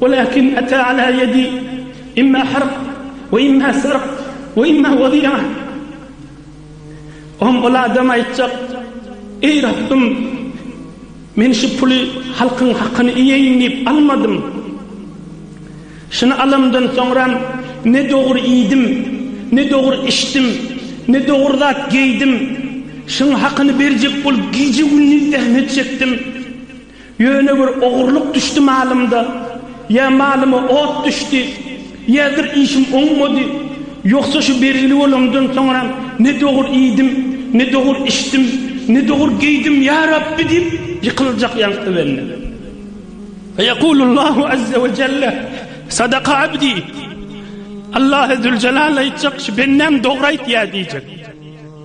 Walakin ata ala yedi imma harq we imma sarq we imma wady'a. Oň ol adam aýtjak, Eý Rabbym, men şu puly halkyň hakyny iýeýin diýip almadym. Şuny alamdan soňram ne dogry iýdim, ne dogry içdim, ne dogry zat geýdim. Şuň hakyny berjek bolup gije-gündiz zähmet çekdim. Ýöne bir ogurlyk düşdi malymda, ýa malyma ot düşdi, ýadyr işim oňmady. Ýogsa şu belgili bolandan soňram ne dogur iýdim, ne dogur içdim, ne dogur geýdim, ýa Rabbi diýip ýykyljak ýaňky bende. Feýekulullahu azze we jelle, Sadaka abdi, Allahy züljelal aýtjak, şu bendäm dogry aýtýar diýjek.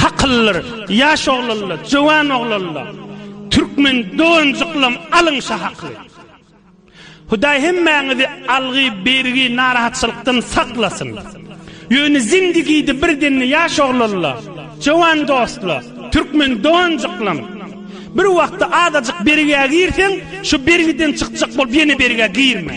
Hakyllar, ýaş oglanlar, jöwan oglanlar, türkmen doganjyklam alyň şa hakly. Hudaý hemmäňizi algy, bergi, narahatçylykdan saklasyn. Ýöne zindigide bir demde ýaş oglanlar, jöwan dostlar, türkmen doganjyklam, bir wagtda azajyk bergä girseň, şu bergiden çykjak bolup ýene bergä girme.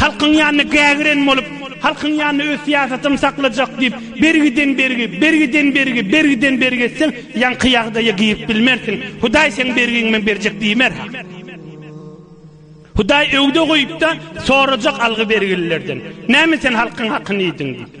Halkyň ýanyna gägiren bolup, halkyň ýanyna öz syýasatym saklajak diýip, bergiden bergi, bergiden bergi, bergiden bergi etseň, ýaňky ýagdaýa girip bilmersiň. Hudaý seň bergiňi men berjek diýmer-ha. Hudaý öwde goýup-da, sorajak algy-bergililerden, Näme sen halkyň hakyny iýdiň? diýip.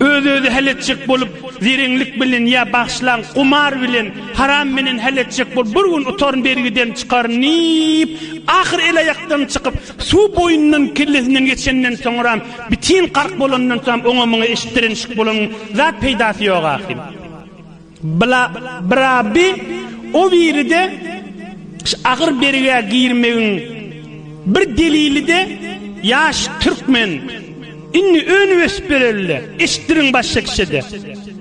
Öz-özi hal etjek bolup, zireňlik bilen ýa bagşylaň gumar bilen, haram bilen hal etjek bolup, bir gün utaryn, bergiden çykaryn diýip, ahyr el-aýakdan çykyp, suw boýundan kellesinden geçenden soňram, bitin gark bolandan soňam oňa-muňa eşitdirenişik bolan zat peýdasy ýok ahyryn. Bla bra bi o biride ş agyr bergä girmegiň bir delilide ýaş türkmen indi öňüp ösüp berelide eşitdiriň başga kişide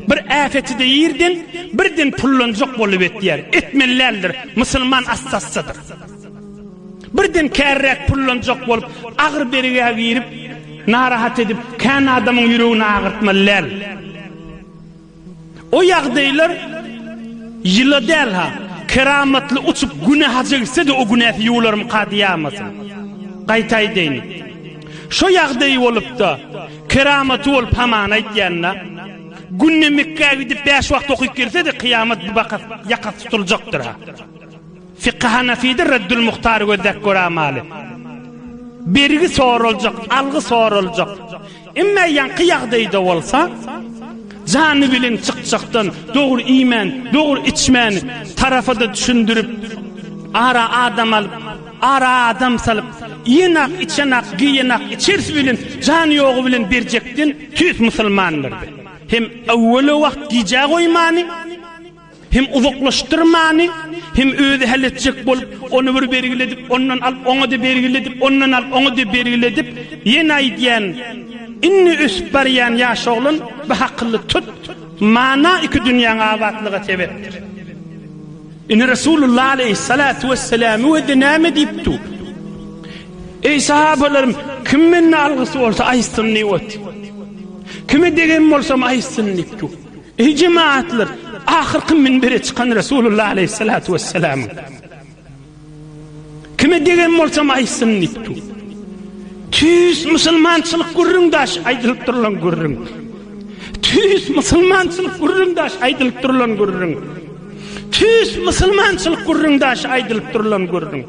bir äpetide ýerden birden pullanjak bolup etýär etmeli däldir musulman assassadyr birden kärräk pullanjak bolup agyr bergä girip narahat edip kän adamyň ýüregini agyrtmaly däl. O ýagdaýlar ýyla däl-ha, keramatly uçup Güne haja gitse-de o günäsi ýuwularmyka diýýämasyn. Gaýta aýdaýyn. Şo ýagdaýy bolup-da, keramaty bolup hamana aýtýan-da. Günde Mekgä gidip bäş wagt okyp gelse-de kyýamat bu bakas ýakasy tutuljakdyr-ha. Fiky Hanafyda Reddül Muhtary gözläp göramaly. Bergi soraljak, algy soraljak. Emma ýaňky ýagdaýda bolsa, jany bilen çykjakdan dogry iýmän, dogry içmän, tarapa-da düşündirip, ara adam alyp, ara adam salyp, iýenak, içenak, geýenak, içersi bilen, jany ýogy bilen berjekden tüýs musulmandyrdy. Hem öwwele wagt gijä goýmany, Hem uzaklaşdyrmany, hem özi hal etjek bolup, ony bir bergiledip, ondan alyp, oňa-da bergiledip, ondan alyp, oňa-da bergiledip, ýene aýdýan, Indi ösüp barýan ýaş oglan, bir hakyly tut, mana iki dünýäň abatlyga sebäpdir. Indi Resulullah aleýhissalatu wesselam özi näme diýip dur? Eý sahabalarym, kim menden algysy bolsa aýtsyn diýip otyr. Kime degen bolsam aýtsyn diýip dur. Eý jemagatlar! Ahyrky minbere çykan Resulullah aleýhissalatu wessalamyň, Kime degen bolsam aýtsyn diýipdi. Tüýs musulmançylyk gürrüň daş aýdylyp durulan gürrüň. Tüýs musulmançylyk gürrüň daş aýdylyp durulan gürrüň. Tüýs musulmançylyk gürrüň daş aýdylyp durulan gürrüň.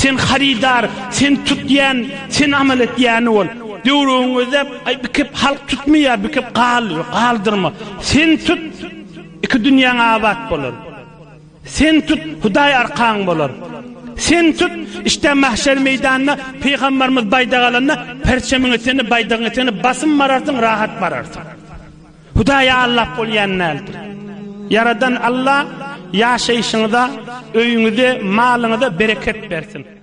Sen harydar, sen tutýan, sen amal etýäni bol. Döwrüňizde bikep halk tutmaýar, bikep gal, galdyrma. Sen tut, iki dünýäň abat bolar. Sen tut, Hudaý arkaň bolar. Sen tut, işdä mahşer meýdanyna pygambarymyz baýdak alanda, perçemiň etegini, baýdagyň etegini basym bararsyň, rahat bararsyň. Hudaýy aldap bolýan däldir. Ýaradan Alla ýaşaýşyňyza, öýüňize, malyňyza bereket bersin.